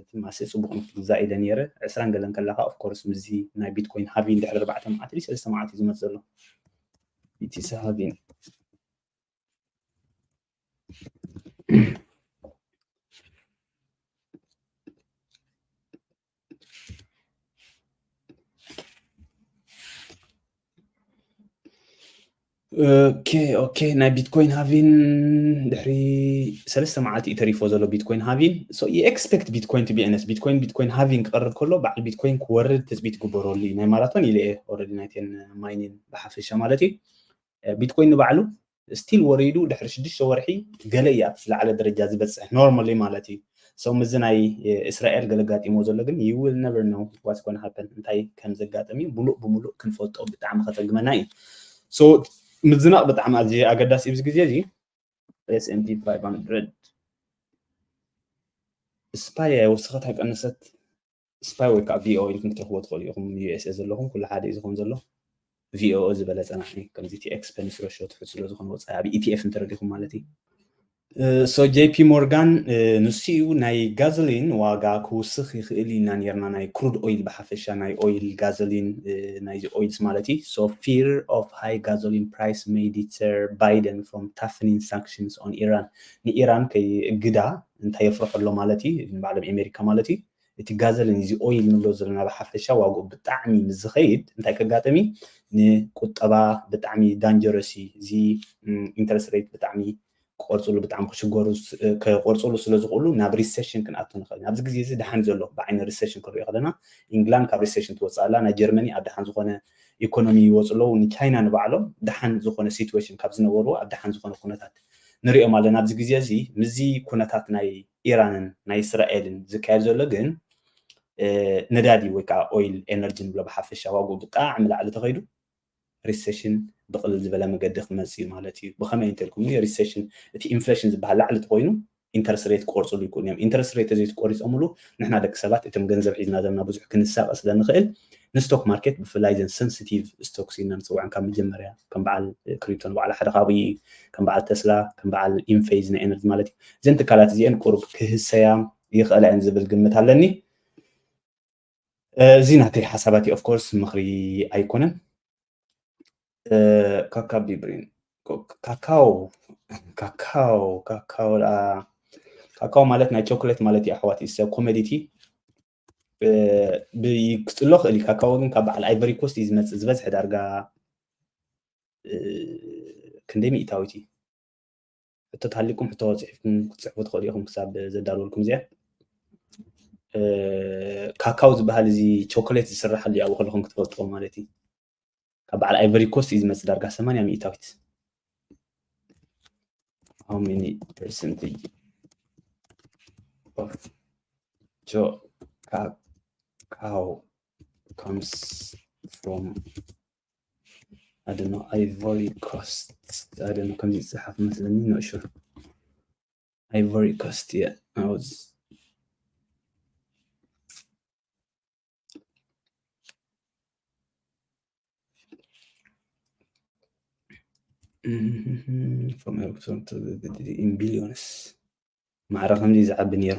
ትማሲ ጽቡቕ ንክትግዛእ ኢለ ነይረ ዕስራን ገለን ከላካ ኦፍ ኮርስ ምስዚ ናይ ቢትኮይን ሃቪን ድሕሪ ኣርባዕተ መዓልቲ ድዩ ሰለስተ መዓልቲ ዝመጽ ዘሎ ኢቲሲ ሃቪን ኦኬ ኦኬ ናይ ቢትኮይን ሃቪን ድሕሪ ሰለስተ መዓልቲ እዩ ተሪፎ ዘሎ ቢትኮይን ሃቪን ኤክስፔክት ቢትኮይን ቱ ቢነስ ቢትኮይን ቢትኮይን ሃቪን ክቐርብ ከሎ በዓል ቢትኮይን ክወርድ ትፅቢት ግበረሉ እዩ ናይ ማራቶን ኢለ እየ ኦረዲ ናይቴን ማይኒን ብሓፈሻ ማለት እዩ ቢትኮይን ንባዕሉ ስቲል ወሪዱ ድሕሪ ሽዱሽተ ወርሒ ገለ እዩ ኣብቲ ዝለዓለ ደረጃ ዝበፅሕ ኖርማሊ ማለት እዩ ሰው ምዚ ናይ እስራኤል ገለ ጋጢሞ ዘሎ ግን ዩ ዊል ነቨር ነው ዋትስ ጎን ሃፐን እንታይ ከም ዘጋጥም እዩ ሙሉእ ብሙሉእ ክንፈልጦ ብጣዕሚ ከፀግመና እዩ ሶ ምዝናቕ ብጣዕሚ ኣዝዩ ኣገዳሲ እዩ እዚ ግዜ እዚ ኤስኤንዲ 500 ስፓይ ወስኸት ኣይቀነሰት ስፓይ ወይ ከዓ ቪኦኦ ኢልኩም ክትረኽቦ ትኽእሉ ኢኹም ዩኤስኤ ዘለኹም ኩሉ ሓደ እዩ ዝኾን ዘሎ ቪኦኦ ዝበለ ፀናሕኒ ከምዚ እቲ ኤክስፐንስ ረሾ ትሑት ስለ ዝኾነ ወፃኢ ኣብ ኢቲኤፍ እንተረዲኹም ማለት እዩ ሶ ጄፒ ሞርጋን ንሱ እዩ ናይ ጋዘሊን ዋጋ ክውስኽ ይኽእል ኢና ነርና ናይ ክሩድ ኦይል ብሓፈሻ ናይ ኦይል ጋዘሊን ናይዚ ኦይልስ ማለት እዩ ሶ ፊር ኦፍ ሃይ ጋዞሊን ፕራይስ ሜይ ዲተር ባይደን ፍሮም ታፍኒን ሳንክሽንስ ኦን ኢራን ንኢራን ከይ እግዳ እንታይ የፍርሖ ኣሎ ማለት እዩ ንባዕሎም ኤሜሪካ ማለት እዩ እቲ ጋዘልን እዚ ኦይል ንብሎ ዘለና ብሓፈሻ ዋግኡ ብጣዕሚ ምስ ዝኸይድ እንታይ ከጋጥም እዩ ንቁጠባ ብጣዕሚ ዳንጀረስ እዩ እዚ ኢንተረስት ሬት ብጣዕሚ ክቆርፅሉ ብጣዕሚ ክሽገሩ ክቆርፅሉ ስለ ዝኽእሉ ናብ ሪሴሽን ክንኣቱ ንኽእል ኣብዚ ግዜ እዚ ድሓን ዘሎ ብዓይኒ ሪሴሽን ክንሪኦ ከለና ኢንግላንድ ካብ ሪሴሽን ትወፅእ ኣላ ናይ ጀርመኒ ኣብ ድሓን ዝኾነ ኢኮኖሚ ይወፁ ኣለዉ ንቻይና ንባዕሎም ድሓን ዝኾነ ሲትዌሽን ካብ ዝነበርዎ ኣብ ድሓን ዝኾነ ኩነታት ንሪኦም ኣለና ኣብዚ ግዜ እዚ ምስዚ ኩነታት ናይ ኢራንን ናይ እስራኤልን ዝካየድ ዘሎ ግን ነዳዲ ወይ ከዓ ኦይል ኤነርጂ ንብሎ ብሓፈሻ ዋግኡ ብጣዕሚ ላዕሊ ተኸይዱ ሪሴሽን ብቕልል ዝበለ መገዲ ክመፅእ እዩ ማለት እዩ ብኸመይ እንተልኩምኒ ሪሴሽን እቲ ኢንፍሌሽን ዝበሃል ላዕሊ ተኾይኑ ኢንተረስት ሬት ክቆርፅሉ ይክእሉ እዮም። ኢንተረስት ሬት ተዘይትቆሪፆምሉ ንሕና ደቂ ሰባት እቶም ገንዘብ ሒዝና ዘምና ብዙሕ ክንሳቀ ስለንክእል ንስቶክ ማርኬት ብፍላይ ዘን ሰንስቲቭ ስቶክስ ኢልና ንፅውዐን ካብ መጀመርያ ከም በዓል ክሪፕቶ ንባዕሉ ሓደ ካብኡ እዩ ከም በዓል ተስላ ከም በዓል ኢንፌዝ ናይ ኤነርጂ ማለት እዩ እዘን ትካላት እዚአን ቁሩብ ክህሰያ ይኽእላ እየን ዝብል ግምት ኣለኒ። እዚ ናተይ ሓሳባት እዩ ኦፍኮርስ ምኽሪ ኣይኮነን ካካ ቢብሪን ካካው ካካው ካካው ካካው ማለት ናይ ቾኮሌት ማለት እዩ ኣሕዋት ኢሰ ኮመዲቲ ክፅሎ ክእል እዩ ካካው ግን ካብ በዓል ኣይቨሪ ኮስት እዩ ዝመፅእ ዝበዝሐ ዳርጋ ክንደይ ሚእታዊት እዩ ሕቶ ተሃሊኩም ሕቶ ጽሒፍኩም ክትጽሕፉ ትኽእሉ ኢኹም ክሳብ ዘዳልወልኩም እዚኣ ካካው ዝበሃል እዚ ቾኮሌት ዝስራሓሉ ኣብኡ ከለኹም ክትፈልጥዎ ማለት እዩ ካብ በዓል ኣይቨሪ ኮስት እዩ ዝመፅእ ዳርጋ ሰማንያ ሚእታዊት how many percentage of cacao comes from ኣደኖ ኣይቮሪ ኮስት ኣደኖ ከምዚ ዝፅሓፍ መስለኒ ንእሹ ኣይቮሪ ኮስት እየ ኣውዝ ፎም ኤርክትሮን ቢሊዮንስ ማዕረ ከምዚ ዝዓቢ ነይሩ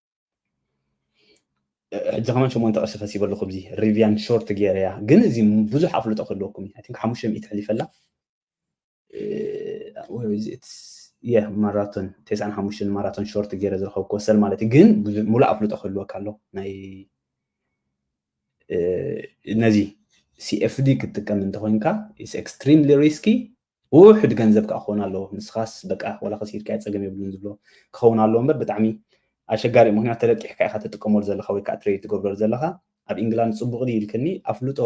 ሕጂ ከማን ሸሞንተ ቅርሺ ከሲበ ኣለኹ ብዚ ሪቪያን ሾርት ገይረያ ግን እዚ ብዙሕ ኣፍልጦ ክህልወኩም እዩ ቲንክ ሓሙሽተ ሚእቲ ሕሊፈ ኣላ የ ማራቶን ተስዓን ሓሙሽተን ማራቶን ሾርት ገይረ ዝረኸብኩ ወሰል ማለት እዩ ግን ሙሉእ ኣፍልጦ ክህልወካ ኣሎ ናይ ነዚ ሲኤፍዲ ክትጥቀም እንተኮይንካ ኤክስትሪምሊ ሪስኪ ውሑድ ገንዘብ ከኣ ክኾን ኣለዎ ንስኻስ በቃ ዋላ ከሲርካዮ ጸገም የብሉን ዝብሎ ክኸውን ኣለዎ እምበር ብጣዕሚ ኣሸጋሪ እዩ ምክንያቱ ተለቂሕካ ኢኻ ትጥቀመሉ ዘለኻ ወይ ከኣ ትሬድ ትገብረሉ ዘለኻ ኣብ ኢንግላንድ ጽቡቕ ድዩ ኢልክኒ ኣፍልጦ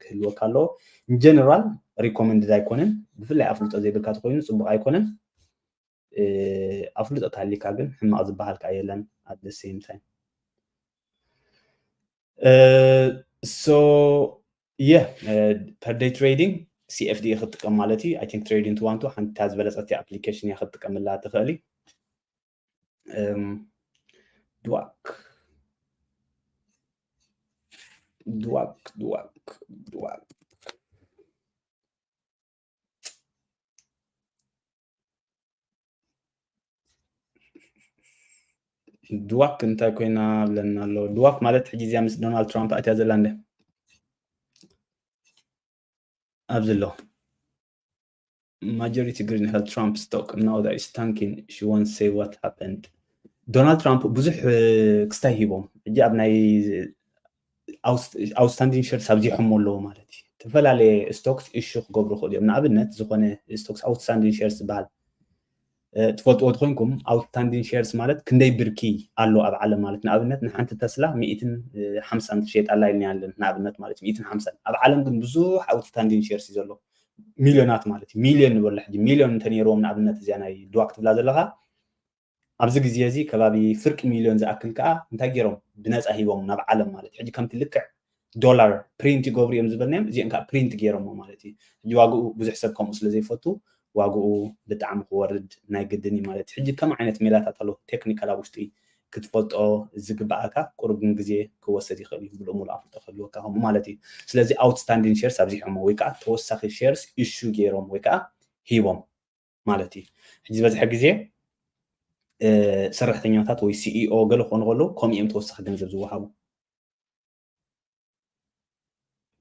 ክህልወካ ኣለዎ ጀነራል ሪኮመንድድ ኣይኮነን ብፍላይ ኣፍልጦ ዘይብልካ ተኮይኑ ጽቡቕ ኣይኮነን ኣፍልጦ ተሃሊካ ግን ሕማቅ ዝበሃል ከኣ የለን ኣት ዘ ሴም ታይም ሶ የ ፐርደይ ትሬዲንግ ሲኤፍዲ ክትጥቀም ማለት እዩ ኣይ ቲንክ ትሬዲንግ ትዋንቱ ሓንታ ዝበለፀቲ ኣፕሊኬሽን እያ ክትጥቀምላ ትኽእሊ ድዋክ ድዋክ ድዋክ ድዋክ ድዋክ እንታይ ኮይና ብለና ኣሎ ድዋክ ማለት ሕጂ እዚኣ ምስ ዶናልድ ትራምፕ ኣትያ ዘላ እንደ ኣብዚ ኣሎ ማጆሪቲ ግሪን ሄል ትራምፕ ስቶክ ናው ዳት ኢስ ታንኪን ሺ ዋን ሴይ ዋት ሃፐንድ ዶናልድ ትራምፕ ብዙሕ ክስታይ ሂቦም ሕጂ ኣብ ናይ ኣውትስታንዲንግ ሸርስ ኣብዚሖሞ ኣለዎ ማለት እዩ ዝተፈላለየ ስቶክስ እሹ ክገብሩ ክእሉ እዮም ንኣብነት ዝኾነ ስቶክስ ኣውትስታንዲንግ ሸርስ ዝበሃል ትፈልጥዎ ትኮንኩም ኣውትስታንዲንግ ሸርስ ማለት ክንደይ ብርኪ ኣሎ ኣብ ዓለም ማለት ንኣብነት ንሓንቲ ተስላ ሚእትን ሓምሳን ትሸየጥ ኣላ ኢልና ኣለን ንኣብነት ማለት እዩ ሚእትን ሓምሳን ኣብ ዓለም ግን ብዙሕ ኣውትስታንዲንግ ሸርስ እዩ ዘሎ ሚልዮናት ማለት እዩ ሚልዮን ንበሎ ሕጂ ሚልዮን እንተነይርዎም ንኣብነት እዚያ ናይ ድዋ ክትብላ ዘለካ ኣብዚ ግዜ እዚ ከባቢ ፍርቂ ሚልዮን ዝኣክል ከኣ እንታይ ጌሮም ብነጻ ሂቦም ናብ ዓለም ማለት እዩ ሕጂ ከምቲ ልክዕ ዶላር ፕሪንት ይገብሩ እዮም ዝበልናዮም እዚኦም ከኣ ፕሪንት ጌሮሞ ማለት እዩ ሕጂ ዋግኡ ብዙሕ ሰብ ከምኡ ስለ ዘይፈቱ ዋግኡ ብጣዕሚ ክወርድ ናይ ግድን እዩ ማለት እዩ ሕጂ ከም ዓይነት ሜላታት ኣሎ ቴክኒካል ኣብ ውሽጢ ክትፈልጦ ዝግብኣካ ቁሩብ ግን ግዜ ክወሰድ ይኽእል እዩ ብሎ ሙሉ ኣፍልጦ ክህልወካ ከምኡ ማለት እዩ ስለዚ ኣውትስታንዲን ሼርስ ኣብዚሖሞ ወይ ከዓ ተወሳኺ ሼርስ ኢሹ ጌሮም ወይ ከዓ ሂቦም ማለት እዩ ሕጂ ዝበዝሐ ግዜ ሰራሕተኛታት ወይ ሲኢኦ ገለ ክኾኑ ከለዉ ከምኡ እዮም ተወሳኺ ገንዘብ ዝወሃቡ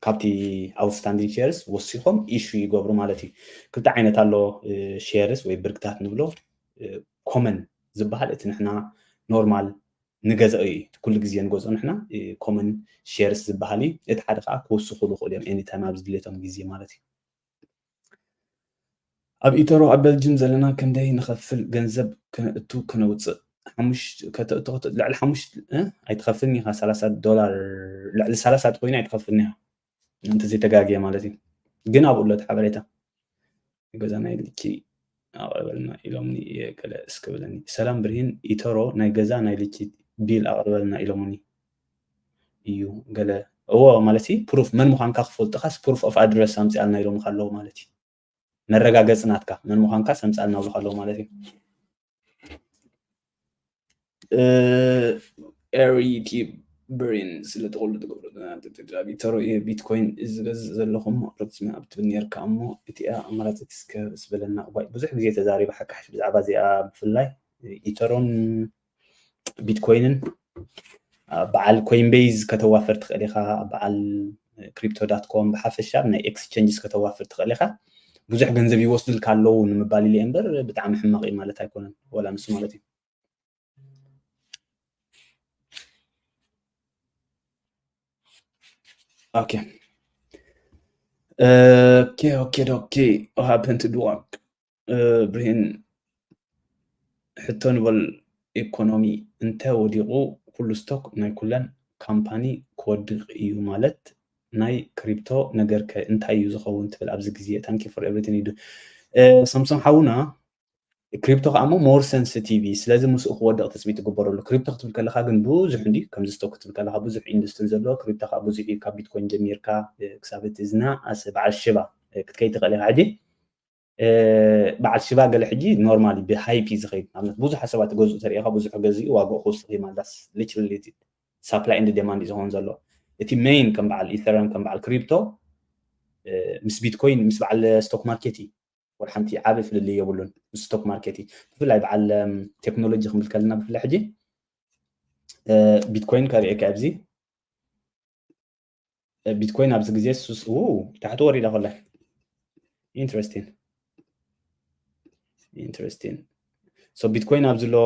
ካብቲ ኣውትስታንዲንግ ሼርስ ወሲኾም ኢሹ ይገብሩ ማለት እዩ ክልተ ዓይነት ኣሎ ሼርስ ወይ ብርግታት ንብሎ ኮመን ዝበሃል እቲ ንሕና ኖርማል ንገዝኦ እዩ ኩሉ ግዜ ንገዝኦ ንሕና ኮመን ሼርስ ዝበሃል እዩ እቲ ሓደ ከዓ ክውስኹ ዝኽእሉ እዮም ኤኒታይም ኣብ ዝድልየቶም ግዜ ማለት እዩ ኣብ ኢተሮ ኣብ በልጅም ዘለና ክንደይ ንኸፍል ገንዘብ ክነእቱ ክነውፅእ ከተእቱ ልዕሊ ሓሙሽተ ኣይትኸፍልን ኢኻ ሰላሳ ዶላር ልዕሊ ሰላሳ ኮይና ኣይትኸፍልን ኢኻ እንተዘይተጋግየ ማለት እዩ ግን ኣብኡ ኣሎ እቲ ሓበሬታ ገዛና የድልኪ ኣቅርበልና ኢሎምኒ እየ ገለ እስክ በለኒ። ሰላም ብርሂን ኢቶሮ ናይ ገዛ ናይ ልጅ ቢል ኣቅርበልና ኢሎሙኒ እዩ ገለ እዎ ማለት ፕሩፍ መን ምዃንካ ክፈልጡኻስ ፕሩፍ ኦፍ ኣድረስ ኣምጽኣልና ኢሎምካ ኣለዉ ማለት እዩ መረጋገጺ ናትካ መን ምዃንካስ ኣምጽኣልና ብሉካ ኣለዉ ማለት እዩ ኤሪ ዩቲብ ብሬን ስለ ተቆሉ ትገብሮ ቪተሮ እየ ቢትኮይን ዝገዝእ ዘለኹም ኣቅርብቲ ኣብ ትብል ነርካ እሞ እቲኣ ኣማራፂት እስከ ስበለና እዋይ ብዙሕ ግዜ ተዛሪበ ሓቂ ሓሽ ብዛዕባ እዚኣ ብፍላይ ኢተሮን ቢትኮይንን በዓል ኮይንቤዝ ከተዋፈር ትኽእል ኢኻ በዓል ክሪፕቶ ዳት ኮም ብሓፈሻ ኣብ ናይ ኤክስቸንጅስ ከተዋፍር ትኽእል ኢኻ ብዙሕ ገንዘብ ይወስዱልካ ኣለዉ ንምባል ኢለ እምበር ብጣዕሚ ሕማቕ እዩ ማለት ኣይኮነን ወላ ንሱ ማለት እዩ ኦኬ ኦኬ ኦኬ ኦኬ ሃፕን ቱ ዱ ብርሂን ሕቶ ንበል ኤኮኖሚ እንተ ወዲቑ ኩሉ ስቶክ ናይ ኩለን ካምፓኒ ክወድቕ እዩ ማለት ናይ ክሪፕቶ ነገር ከ እንታይ እዩ ዝኸውን ትብል ኣብዚ ግዜ ታንኪ ፎር ኤቭሪቲን ይዱ ሰምሶም ሓውና ክሪፕቶ ከዓ እሞ ሞር ሰንስቲቪ ስለዚ ምስኡ ክወድቕ ትፅቢት ትግበረሉ ክሪፕቶ ክትብል ከለካ ግን ብዙሕ እንዲ ከምዚ ስቶክ ክትብል ከለካ ብዙሕ ኢንዱስትሪ ዘለዎ ክሪፕቶ ከዓ ብዙሕ እዩ ካብ ቢትኮይን ጀሚርካ ክሳብ እቲ ዝና ኣስ በዓል ሽባ ክትከይ ትኽእል ኢኻ ሕጂ በዓል ሽባ ገለ ሕጂ ኖርማሊ ብሃይፒ ዝኸይድ ንኣብነት ብዙሓት ሰባት ገዝኡ ተሪኢኻ ብዙሕ ገዚኡ ዋግኡ ክውስኽ እዩ ማለት ሊትራሊ ሳፕላይ ኤንድ ዴማንድ እዩ ዝኸውን ዘሎ እቲ ሜይን ከም በዓል ኢተረም ከም በዓል ክሪፕቶ ምስ ቢትኮይን ምስ በዓል ስቶክ ማርኬት እዩ ወላ ሓንቲ ዓበ ፍልልይ የብሉን ምስ ስቶክ ማርኬት እዩ ብፍላይ በዓል ቴክኖሎጂ ክንብል ከለና ብፍላይ ሕጂ ቢትኮይን ከርእየካ ኣብዚ ቢትኮይን ኣብዚ ግዜ ሱስ ታሕቲ ወሪዳ ኮላ ኢንትረስቲን ኢንትረስቲን ሶ ቢትኮይን ኣብዚ ሎ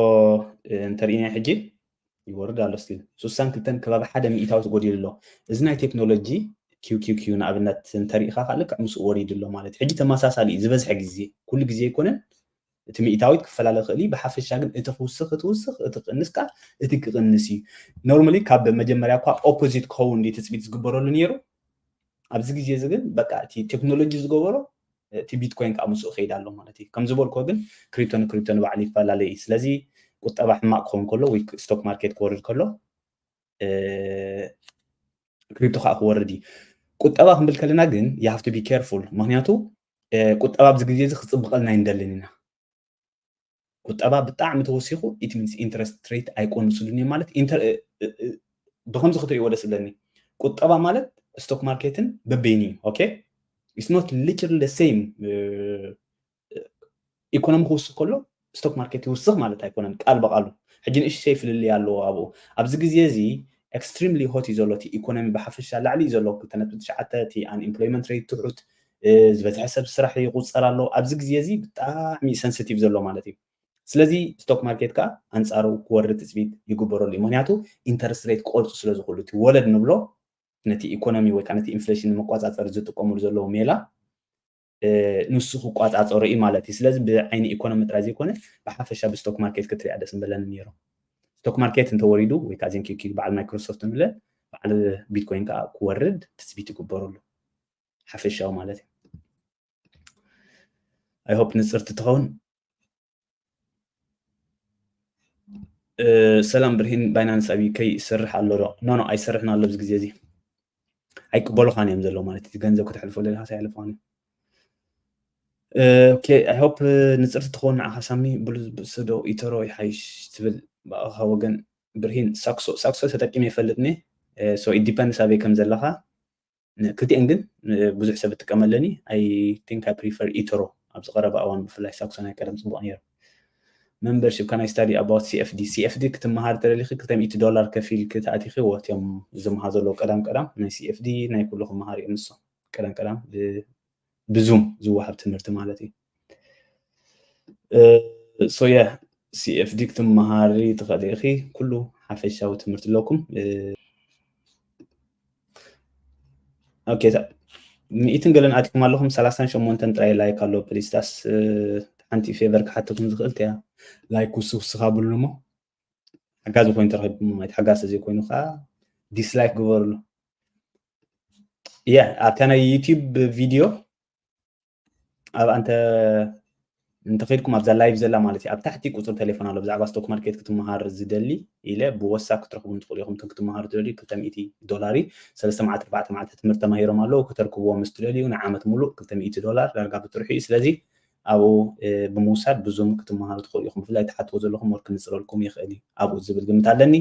እንተርእና ሕጂ ይወርድ ኣሎ ስቲል ስሳን ክልተን ከባቢ ሓደ ሚእታዊ ተጎዲሉ ኣሎ እዚ ናይ ቴክኖሎጂ ኪውኪውኪ ንኣብነት እንተሪኢኻ ከዓ ልክዕ ምስኡ ወሪዱ ኣሎ ማለት እዩ ሕጂ ተመሳሳሊ እዩ ዝበዝሐ ግዜ ኩሉ ግዜ ኣይኮነን እቲ ሚኢታዊት ክፈላለ ይኽእል እዩ ብሓፈሻ ግን እቲ ክውስኽ ክትውስኽ እቲ ክቕንስ ከኣ እቲ ክቕንስ እዩ ኖርማሊ ካብ መጀመርያ እኳ ኦፖዚት ክኸውን ድዩ ትፅቢት ዝግበረሉ ነይሩ ኣብዚ ግዜ እዚ ግን በቃ እቲ ቴክኖሎጂ ዝገበሮ እቲ ቢትኮይን ከዓ ምስኡ ከይድ ኣሎ ማለት እዩ ከም ዝበልኮ ግን ክሪፕቶ ንክሪፕቶ ንባዕሉ ይፈላለ እዩ ስለዚ ቁጠባ ሕማቅ ክኸውን ከሎ ወይ ስቶክ ማርኬት ክወርድ ከሎ ክሪፕቶ ከዓ ክወርድ እዩ ቁጠባ ክንብል ከለና ግን የሃፍቱ ቢ ኬርፉል ምክንያቱ ቁጠባ ኣብዚ ግዜ እዚ ክፅብቐልና ኣይንደልን ኢና ቁጠባ ብጣዕሚ ተወሲኹ ኢት ሚንስ ኢንትረስት ሬት ኣይቆንስሉን እዮም ማለት ብከምዚ ክትሪእዎ ደስ ዝብለኒ ቁጠባ ማለት ስቶክ ማርኬትን በበይኑ እዩ ኦኬ ኢትስ ኖት ሊትራሊ ሴም ኢኮኖሚ ክውስኽ ከሎ ስቶክ ማርኬት ይውስኽ ማለት ኣይኮነን ቃል በቓሉ ሕጂ ንእሽተይ ፍልልይ ኣለዎ ኣብኡ ኣብዚ ግዜ እዚ ኤክስትሪምሊ ሆት እዩ ዘሎ እቲ ኢኮኖሚ ብሓፈሻ ላዕሊ እዩ ዘሎ ክልተ ነጥቢ ትሽዓተ እቲ ኣንኢምፕሎይመንት ረይት ትሑት ዝበዝሐ ሰብ ስራሕ ይቑፀር ኣሎ ኣብዚ ግዜ እዚ ብጣዕሚ ሰንስቲቭ ዘሎ ማለት እዩ ስለዚ ስቶክ ማርኬት ከዓ ኣንፃሩ ክወርድ ትፅቢት ይግበረሉ እዩ ምክንያቱ ኢንተረስት ረይት ክቆርፁ ስለ ዝኽእሉ እቲ ወለድ ንብሎ ነቲ ኢኮኖሚ ወይ ከዓ ነቲ ኢንፍሌሽን ንምቆፃፀር ዝጥቀሙሉ ዘለዉ ሜላ ንሱ ክቋፃፀሮ እዩ ማለት እዩ ስለዚ ብዓይኒ ኢኮኖሚ ጥራይ ዘይኮነ ብሓፈሻ ብስቶክ ማርኬት ክትሪያ ደስ ምበለኒ ነይሩ ስቶክ ማርኬት እንተወሪዱ ወይ ከዓ ዜን ኪኪ በዓል ማይክሮሶፍት ንብለ በዓል ቢትኮይን ከዓ ክወርድ ትፅቢት ይግበረሉ ሓፈሻዊ ማለት እዩ ኣይሆፕ ንፅርቲ ትኸውን ሰላም ብርሂን ባይናንስ ኣብ ዩከይ ይሰርሕ ኣሎ ዶ ኖ ኖ ኣይሰርሕን ኣሎ ኣብዚ ግዜ እዚ ኣይቅበሉኻን እዮም ዘለዉ ማለት እቲ ገንዘብ ከተሕልፎ ዘለካ ኣይሕልፎን ኦኬ ኣይ ሆፕ ንፅርቲ ትኸውን ንዓኻ ሳሚ ብሉዝብስዶ ኢተሮ ይሓይሽ ትብል ብኣኻ ወገን ብርሂን ሳክሶ ሳክሶ ተጠቂመ ይፈልጥኒ ሶ ኢት ዲፐንድስ ኣበይ ከም ዘለኻ ክልቲኤን ግን ብዙሕ ሰብ እጥቀመለን እዩ ኣይ ቲንክ ኣይ ፕሪፈር ኢትሮ ኣብዚ ቀረባ እዋን ብፍላይ ሳክሶናይ ቀደም ፅቡቅ ነይሩ መምበርሽፕ ካናይ ስታዲ ኣባውት ሲኤፍዲ ሲኤፍዲ ክትመሃር ተደሊኺ 200 ዶላር ከፊልኪ ተኣቲኺ ወትዮም ዝመሃር ዘለዎ ቀዳም ቀዳም ናይ ሲኤፍዲ ናይ ኩሉ ክመሃር እዮም ንሶም ቀዳም ቀዳም ብዙም ዝወሃብ ትምህርቲ ማለት እዩ ሶየ ሲኤፍዲ ክትመሃሪ ትኽእሊ ኢኺ ኩሉ ሓፈሻዊ ትምህርቲ ኣለኩም ኦኬ ሚእትን ገለን ኣትኩም ኣለኹም ሰላሳን ሸሞንተን ጥራይ ላይክ ኣሎ ፕሊስ ዳስ ሓንቲ ፌቨር ክሓተኩም ዝኽእል እያ ላይክ ውስውስኻ ብሉ እሞ ሓጋዚ ኮይኑ ተረኪብኩም ማለት ሓጋዚ ተዘይኮይኑ ከዓ ዲስላይክ ግበርሉ ያ ኣብታ ናይ ዩቲዩብ ቪድዮ ኣብ ኣንተ እንተኸድኩም ኣብዛ ላይቭ ዘላ ማለት እዩ ኣብ ታሕቲ ቁፅሪ ቴሌፎን ኣሎ ብዛዕባ ስቶክ ማርኬት ክትመሃር ዝደሊ ኢለ ብወሳብ ክትረኽቡ ንትኽእሉ ኢኹም እቶም ክትመሃሩ ትደልዩ ክልተ ሚእቲ ዶላር እዩ ሰለስተ መዓልቲ ኣርባዕተ መዓልቲ ትምህርቲ ተማሂሮም ኣለዉ ክተርክብዎ ምስ ትደልዩ ንዓመት ሙሉእ ክልተ ሚእቲ ዶላር ዳርጋ ብጥርሑ እዩ ስለዚ ኣብኡ ብምውሳድ ብዙም ክትመሃሩ ትኽእሉ ኢኹም ብፍላይ ትሓትዎ ዘለኹም ወር ክንፅረልኩም ይኽእል እዩ ኣብኡ ዝብል ግምት ኣለኒ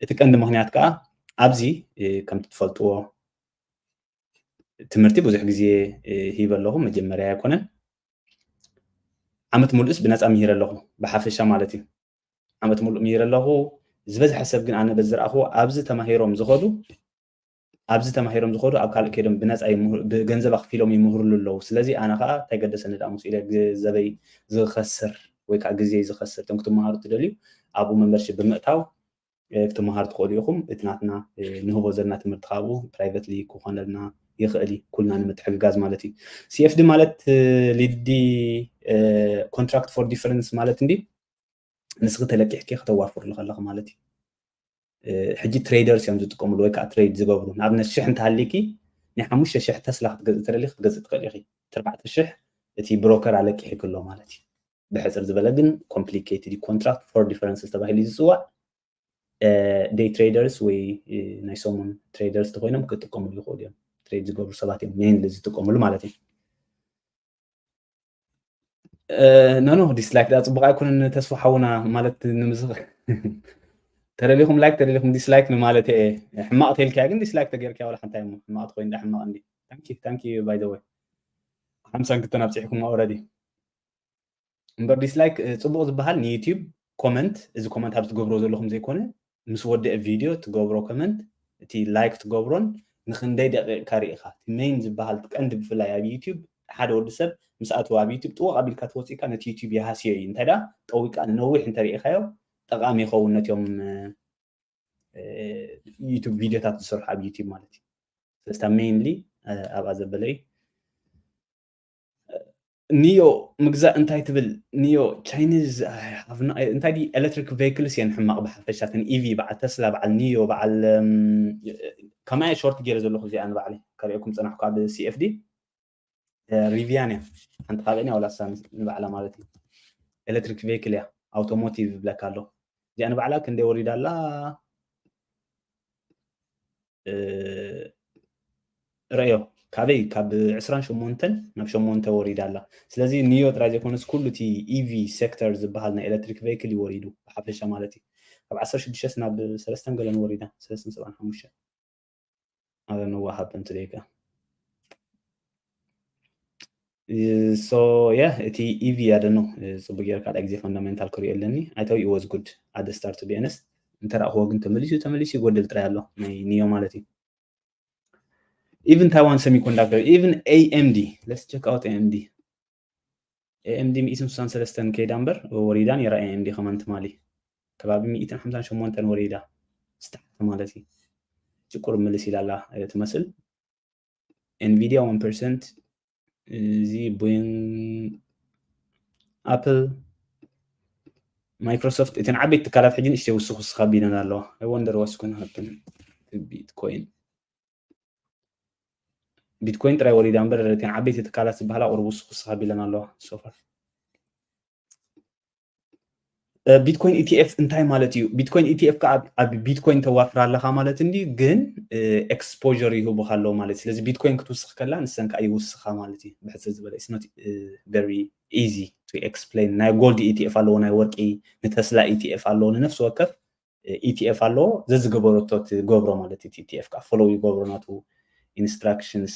እቲ ቀንዲ ምክንያት ከዓ ኣብዚ ከምቲ ትፈልጥዎ ትምህርቲ ብዙሕ ግዜ ሂበ ኣለኹ መጀመርያ ኣይኮነን ዓመት ሙሉእስ ብነፃ ምሂረ ኣለኹ ብሓፈሻ ማለት እዩ ዓመት ሙሉእ ምሂረ ኣለኹ ዝበዝሐ ሰብ ግን ኣነ በዝረኣኽዎ ኣብዚ ተማሂሮም ዝኸዱ ኣብዚ ተማሂሮም ዝኸዱ ኣብ ካልእ ከይዶም ብነፃ ብገንዘብ ኣኽፊሎም ይምህርሉ ኣለዉ ስለዚ ኣነ ከዓ እንታይ ገደሰኒ ዳ ምስ ኢለ ግዘበይ ዝኸስር ወይ ከዓ ግዜ ዝኸስር እቶም ክትመሃሩ ትደልዩ ኣብኡ መምበርሽፕ ብምእታው ክትመሃሩ ትኽእሉ ኢኹም። እቲ ናትና ንህቦ ዘለና ትምህርቲ ከኣ ኣብኡ ፕራይቨትሊ ክኾነልና ይኽእል እዩ፣ ኩልና ንምትሕግጋዝ ማለት እዩ። CFD ማለት ሊዲ ኮንትራክት ፎር ዲፈረንስ ማለት እንድዩ። ንስኺ ተለቂሕኪ ከተዋፍርሉ ከለኺ ማለት እዩ። ሕጂ ትሬደርስ እዮም ዝጥቀምሉ ወይ ከዓ ትሬድ ዝገብሩ ንኣብነት ሽሕ እንተሃሊኪ ናይ ሓሙሽተ ሽሕ ተስላ ክትገዝእ ተደሊ ክትገዝእ ትኽእል ኢኺ ትርባዕተ ሽሕ እቲ ብሮከር ኣለቂሒክሎ ማለት እዩ ብሕፅር ዝበለ ግን ኮምፕሊኬትድ ኮንትራክት ፎር ዲፈረንስስ ተባሂሉ ዝፅዋዕ ደይ ትሬደርስ ወይ ናይ ሰሙን ትሬደርስ ተኮይኖም ክጥቀምሉ ይኽእሉ እዮም ትሬድ ዝገብሩ ሰባት እዮም ሜንሊ ዝጥቀምሉ ማለት እዩ ኖኖ ዲስላይክ ዳ ፅቡቅ ኣይኮነን ተስፋ ሓውና ማለት ንምስኽ ተደሊኹም ላይክ ተደሊኹም ዲስላይክ ንማለት እየ ሕማቅ ተልካያ ግን ዲስላይክ ተገይርካ ዋላ ሓንታይ እሞ ሕማቅ ትኮይን ዳ ሕማቅ እንዲ ታንኪ ታንኪ ባይ ዘ ወይ ሓምሳን ክልተን ኣብፂሕኩም ኦረዲ እምበር ዲስላይክ ፅቡቕ ዝበሃል ንዩቲዩብ ኮመንት እዚ ኮመንት ኣብ ትገብሮ ዘለኹም ዘይኮነ ምስ ወደአ ቪድዮ ትገብሮ ኮመንት እቲ ላይክ ትገብሮን ንክንደይ ደቂቕካ ርኢኻ እቲ ሜይን ዝበሃል ቀንዲ ብፍላይ ኣብ ዩቲዩብ ሓደ ወዲ ሰብ ምስ ኣተወ ኣብ ዩቲዩብ ጥወቕ ኣቢልካ ተወፂእካ ነቲ ዩቲዩብ ይሃስዮ እዩ እንታይ ደኣ ጠዊቕካ ንነዊሕ እንተርኢኻዮ ጠቓሚ ይኸውን ነትዮም ዩቱብ ቪድዮታት ዝሰርሑ ኣብ ዩቲዩብ ማለት እዩ ስለስታ ሜይንሊ ኣብኣ ዘበለ እዩ ንዮ ምግዛእ እንታይ ትብል ንዮ ቻይኒዝ እንታይ ድዩ ኤሌክትሪክ ቬክልስ እየን ሕማቕ ብሓፈሻ ተን ኢቪ በዓል ተስላ በዓል ንዮ በዓል ከማየ ሾርት ገይረ ዘለኹ እዚኣ ንባዕለ ከርእየኩም ፀናሕኩ ኣብ ሲኤፍዲ ሪቪያን እያ ሓንቲ ካብአን እያ ወላሳ ንባዕላ ማለት እዩ ኤሌክትሪክ ቬክል እያ ኣውቶሞቲቭ ብለካ ኣሎ እዚኣ ንባዕላ ክንደይ ወሪዳ ኣላ ረዮ ካበይ ካብ 28 ናብ 8 ወሪዳ ኣላ ስለዚ ንዮ ጥራይ ዘይኮነስ ኩሉ እቲ ኢቪ ሴክተር ዝበሃል ናይ ኤሌክትሪክ ቨይክል እዩ ወሪዱ ብሓፈሻ ማለት እዩ ካብ 16 ናብ ሰለስተን ገለን ወሪዳ ሰለስተን ሰብዓን ሓሙሽተን ኣረ ነዋሃብ እንት ደይካ ሶ ያ እቲ ኢቪ ኣደ ነው ጽቡቅ ጌር ካልኣ ግዜ ፈንዳሜንታል ክሪኦ ኣለኒ ኣይ ታው ኢት ዋዝ ጉድ ኣደ ስታርት ቱ ቢኤንስ እንተረእክዎ ግን ተመሊሱ ተመሊሱ ይጎድል ጥራይ ኣሎ ናይ ኒዮ ማለት እዩ ኢቭን ታይዋን ሰሚኮንዳክተር ኢቭን ኤኤምዲ ለስ ቸክ ኣውት ኤኤምዲ ኤኤምዲ ሚእትን ስሳን ሰለስተን ከይዳ እምበር ወሪዳ ነራ ኤኤምዲ ከማን ትማሊ ከባቢ ሚእትን ሓምሳን ሸሞንተን ወሪዳ ስታርት ማለት እዩ ጭቁር ምልስ ኢላላ ትመስል ኤንቪዲያ ዋን ፐርሰንት እዚ ቦይን ኣፕል ማይክሮሶፍት እተን ዓበይቲ ትካላት ሕጂ ንእሽተይ ውስኽ ውስኽ ኣቢለን ኣለዋ ኣይ ወንደር ዋስ ኮነ ሃብተን ቢትኮይን ቢትኮይን ጥራይ ወሪዳ እምበር እተን ዓበይቲ ትካላት ዝበሃላ ቁሩብ ውስኽ ውስኽ ኣቢለን ኣለዋ ሶፋር ቢትኮይን ኢቲኤፍ እንታይ ማለት እዩ? ቢትኮይን ኢቲኤፍ ከዓ ኣብ ቢትኮይን ተዋፍር ኣለካ ማለት እንድዩ፣ ግን ኤክስፖዠር ይህቡካ ኣለዉ ማለት እዩ። ስለዚ ቢትኮይን ክትውስኽ ከላ ንሰን ከዓ ይውስኻ ማለት እዩ። ብሕፅር ዝበለ ኢትስ ኖት ቨሪ ኢዚ ቱ ኤክስፕሌን። ናይ ጎልድ ኢቲኤፍ ኣለዎ፣ ናይ ወርቂ ንተስላ ኢቲኤፍ ኣለዎ፣ ንነፍሲ ወከፍ ኢቲኤፍ ኣለዎ። ዘዝገበረቶ ትገብሮ ማለት እዩ። ኢቲኤፍ ከዓ ፎሎው ይገብሮ ናቱ ኢንስትራክሽንስ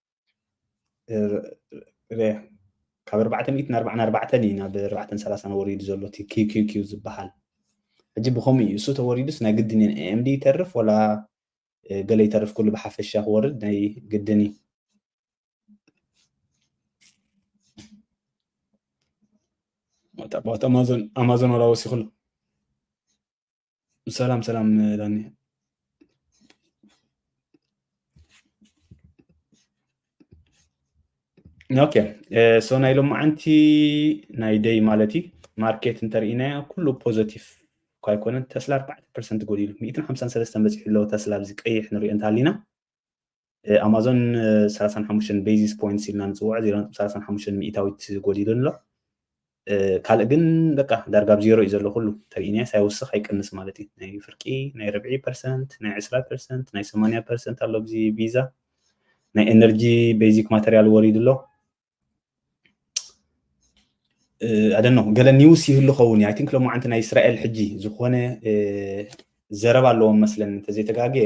ካብ ኣርባዕተ ሚእትን ኣርባዓን ኣርባዕተን እዩ ናብ ኣርባዕተን ሰላሳን ወሪዱ ዘሎ እቲ ኪኪኪ ዝበሃል ሕጂ ብከምኡ እዩ እሱ ተወሪዱስ ናይ ግድን እየን ኤምዲ ይተርፍ ወላ ገለ ይተርፍ ኩሉ ብሓፈሻ ክወርድ ናይ ግድን እዩ ኣማዞን ኣማዞን ወላ ወሲኹሉ ሰላም ሰላም ዳኒ ኦኬ ሶ ናይ ሎማዓንቲ ናይ ደይ ማለት እዩ ማርኬት እንተርኢናዮ ኩሉ ፖዘቲቭ እኳ ኣይኮነን ተስላ ኣርባዕተ ፐርሰንት ጎዲሉ ሚእትን ሓምሳን ሰለስተን በፂሑ ኣለዎ ተስላ ኣብዚ ቀይሕ ንሪኦ እንተሃሊና ኣማዞን ሰላሳን ሓሙሽተን ቤዚስ ፖይንትስ ኢልና ንፅውዖ ዜሮ ነጥቢ ሰላሳን ሓሙሽተን ሚእታዊት ጎዲሉን ኣሎ ካልእ ግን በቃ ዳርጋ ብ ዜሮ እዩ ዘሎ ኩሉ ተሪኢናስ ኣይወስኽ ኣይቀንስ ማለት እዩ ናይ ፍርቂ ናይ ርብዒ ፐርሰንት ናይ ዕስራ ፐርሰንት ናይ ሰማንያ ፐርሰንት ኣሎ ብዚ ቪዛ ናይ ኤነርጂ ቤዚክ ማተርያል ወሪዱ ኣሎ ኣደኖ ገለ ኒውስ ይህሉ ኸውን ኣይ ቲንክ ሎማዓንቲ ናይ እስራኤል ሕጂ ዝኾነ ዘረባ ኣለዎም መስለን እንተዘይተጋግየ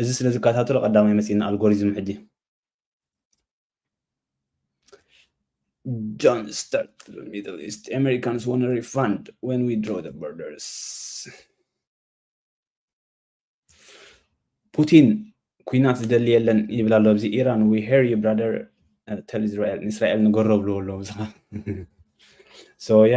እዚ ስለ ዝከታተሎ ቀዳማይ መጺና ኣልጎሪዝም ሕጂ ጆን ስታርት ሚድል ኢስት ኣሜሪካንስ ዋን ሪፋንድ ወን ዊ ድሮ ደ ቦርደርስ ፑቲን ኩናት ዝደሊ የለን ይብል ኣሎ ኣብዚ ኢራን ዊ ሄር ዩ ብራደር ተል እስራኤል ንእስራኤል ንገሮ ብልዎ ኣለዉ ሶ የ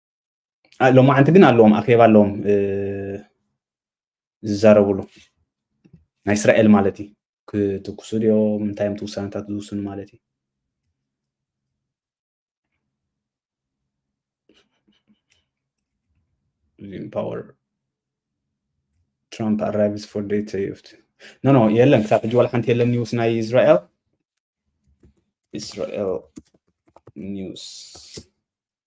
ሎማዓንቲ ግን ኣለዎም ኣኼባ ኣለዎም ዝዛረብሉ ናይ እስራኤል ማለት እዩ ክትኩሱ ድዮም እንታይ እዮም ትውሳነታት ዝውስኑ ማለት እዩ ዚም ፓወር ትራምፕ ኣራይቭስ ፎር ደይ ተዩፍት ኖ ኖ የለን ክሳብ ሕጂ ዋላ ሓንቲ የለን ኒውስ ናይ እስራኤል እስራኤል ኒውስ